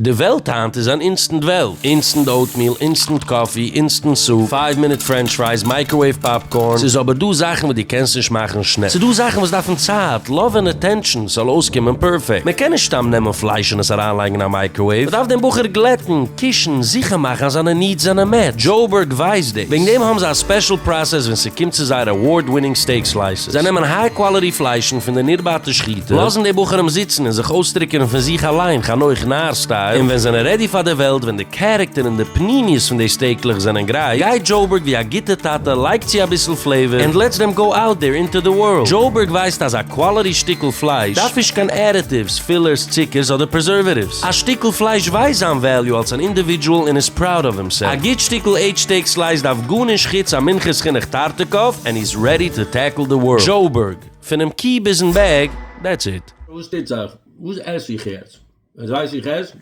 די וועלט היינט איז אן אינסטענט וועלט, אינסטענט אוטמיל, אינסטענט קאפי, אינסטענט סופ, פייוו מינוט פרענטש פרייס, מייקראוועיוו פאפקארן, ס'איז אבער דא זאכן וואס דו קענסט נישט מאכן שנעל, ס'דא זאכן וואס דארפן צייט, לאוו און אטענטשאן, ס'זאל אויסקומען פערפעקט, מען קען נישט סתם נעמען פלייש און עס אריינלייגן אין א מייקראוועיוו, מען דארף דעם בחור גלעטן, קישן, זיכער מאכן אז זיינע נידס זענען מעטשט, דזשאובערג ווייסט דאס, וועגן דעם האבן זיי א ספעשל פראסעס ווען ס'קומט צו זייער עווארד ווינינג סטעיק סלייסעס. זיי נעמען היי קוואליטי פליישן פון די נרבאטע שחיטה, לאזן די בוחרים זיצן און זיך אויסטריקענען פון זיך אליין חנוך נאר סטייל, און ווען זענען רעדי פאר די וועלט ווען די קערעקטער און די פנימיות פון די סטעיקלעך זענען גרייט, גייט דזשאובערג ווי א גוטע טאטע לייגט צו אביסל פלעיווער ענד לעטס דעם גאו אוט דער אינטו די ווארלד. דזשאובערג ווייסט אז א קוואליטי שטיקל פלייש דארף נישט קיין עדעטיווס, פילערס, צוקערס אדער פרעזערוועטיווס. א שטיקל פלייש ווייסט זיין וועליו אלס אן אינדיווידזשועל און איז פראוד אוו הימסעלף. א גוט שטיקל עדזש סטעיק סלייס דארף גארנישט חוץ א מונחת חינוך טארטיקאוו ענד. רעדי טו טעקל די ווארלד. דזשאובערג, פונעם קי ביזן בעג, דעטס איט. וואס טוט זיך? וואס עס איך יעצט? יעצט ווייס איך עס?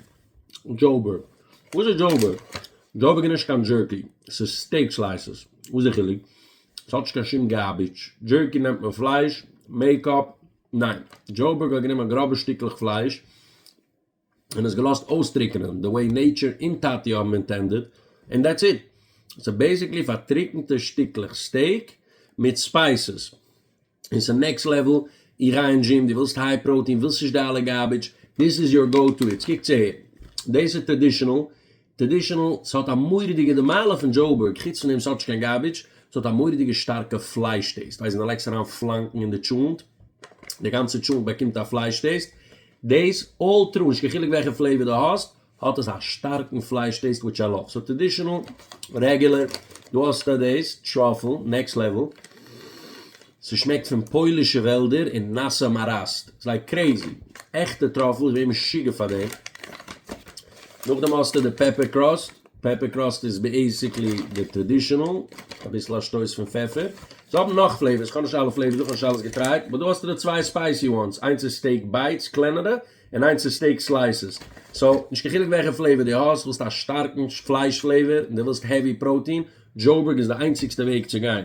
דזשאובערג. וואס איז דזשאובערג? דזשאובערג איז נישט קיין דזשערקי, עס איז סטעיק סלייסעס. וואס איז די חילוק? עס האט נישט קיין שום גארביטש. דזשערקי נעמט מען פלייש, מעקאפ, ניין, דזשאובערג האט גענומען גראבע שטיקלעך פלייש, און עס געלאזט אויסטריקענען די וועי נעיטשער און טאטי האבן אינטענדעד און דעטס איט. סאו בעיסיקלי פארטריקענטע שטיקלעך סטעיק מיט ספייסעס און סאו נעקסט לעוועל איראיען דזשים דו ווילסט היי פראוטין ווילסט נישט די אלע גארבידזש דיס איז יור גאו טו איטס קוק צו הער דאס איז טראדישענעל טרעדישענעל, ס'האט א מורא'דיגע די מעלה פון דזשאובערג חוץ פון דעם ס'האט נישט קיין גארבידזש, ס'האט א מורא'דיגע שטארקע פלייש טעיסט, ווייל זינט די לייגסט אריין פלאנקן אין די טשולנט, די גאנצע טשולנט באקומט א פלייש טעיסט, דעיס אלל טרו, נישט קיין חילוק וועלכע פלעיוואר דו האסט, האט עס א שטארקן פלייש טעיסט וויטש איי לאוו, סאו טרעדישענעל, רעגולער, דא האסטו דעיס, טראפל, נעקסט לעוועל. ס'שמעקט פון פוילישע וועלדער און נאסע מאראסט. זיי קרעזי. עכטע טראפל, איך בין משוגע פאר דעם. נאכדעם האסטו די פעפער קראסט. פעפער קראסט איז בעיסיקלי די טראדישענעל, אביסל א שטויס פון פעפער. זיי האבן נאך פלעיווערס, כ'האב נישט אלע פלעיווערס דא, כ'האב נישט אלעס געטרייט. באט דא האסטו די צוויי ספייסי וואנס, איינס איז סטעיק בייטס, קלענערע, און איינס איז סטעיק סלייסעס. סאו, נישט קיין חילוק וועלכע פלעיווער דו האסט, ווילסט א שטארקן פלייש פלעיווער, און דו ווילסט העווי פראוטין, דזשאובערג איז די איינציגסטע וועג צו גיין.